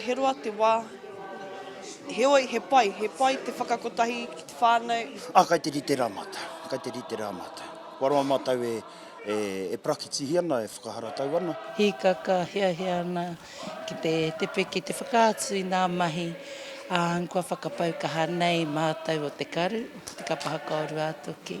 He roa te wā, heoi he pai, he pai te whakakotahi ki te whānau. Ā, kai te rite rā mātou, kai te rite rā mātou. Kua roa mātou e parakitihi ana, e whakaharatau ana. Hīkaka, hiahia ana ki te tepe, ki te whakaatu i ngā mahi, ā, kua whakapau kaha nei mātou o te karu, te kapa hakaorua toki.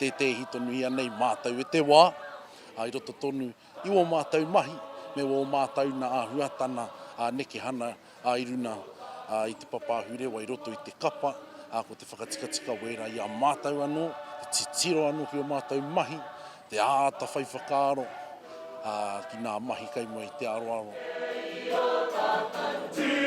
tētehi tonu ianei mātou e te wā, ā, i roto tonu i wō mātou mahi me wō mātou nā āhuatana ā nekehana ā i runa ā i te papa ahurewa i roto i te kapa, ā, ko te whakatikatika wērā i a mātou anō, te titiro anō ki ō mātou mahi, te āta whai whakaaro, ā, ki nā mahi kei mua i te aroaro. Kei ō tātou tūranga.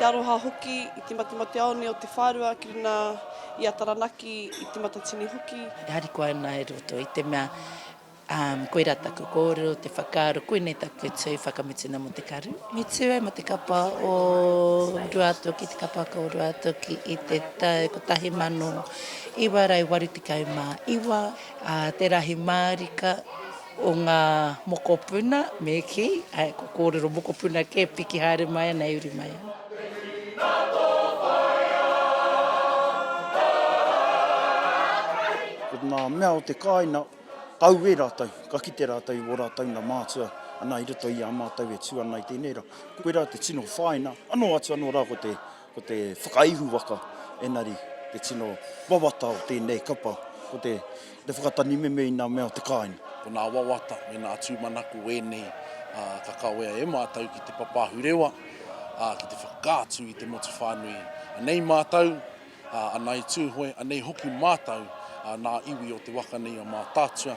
Te aroha hoki i te matemate-aone o Te Whārua ki runga i a Taranaki i Te Matatini hoki. E harikoa ana e roto i te mea umm koira taku kōrero, te whakaaro, koinei taku tū whakamutunga mō te karu. Me tū ai mō te kapa o Ruātoki, te kapaka o Ruātoki i te tau 1989. Ā, te rahi mārika o ngā mokopuna, me kī, ā, kua kōrero mokopuna kē, piki haere mai ana e uri mai ana. Ko ngā mea o te kāina, ka auē rātou, ka kite rātou i wō rātou na mātua, ana i roto i a mātou e tū ana i tēnei ra. Koirā te tino whāina, anō atu anō rā ko te. Ko te whakaihu waka enari te tino wawata o tēnei kapa, ko te whakatanimeme i nā mea o te kāinga. Ko nā wawata me nā tūmanako ēnei ka kawea e mātou ki te papaahu rewa, ki te whakaatu i te motu whānui. Anei mātou, anei Tūhoe, anei hoki mātou nā iwi o te waka nei a Mātaatua.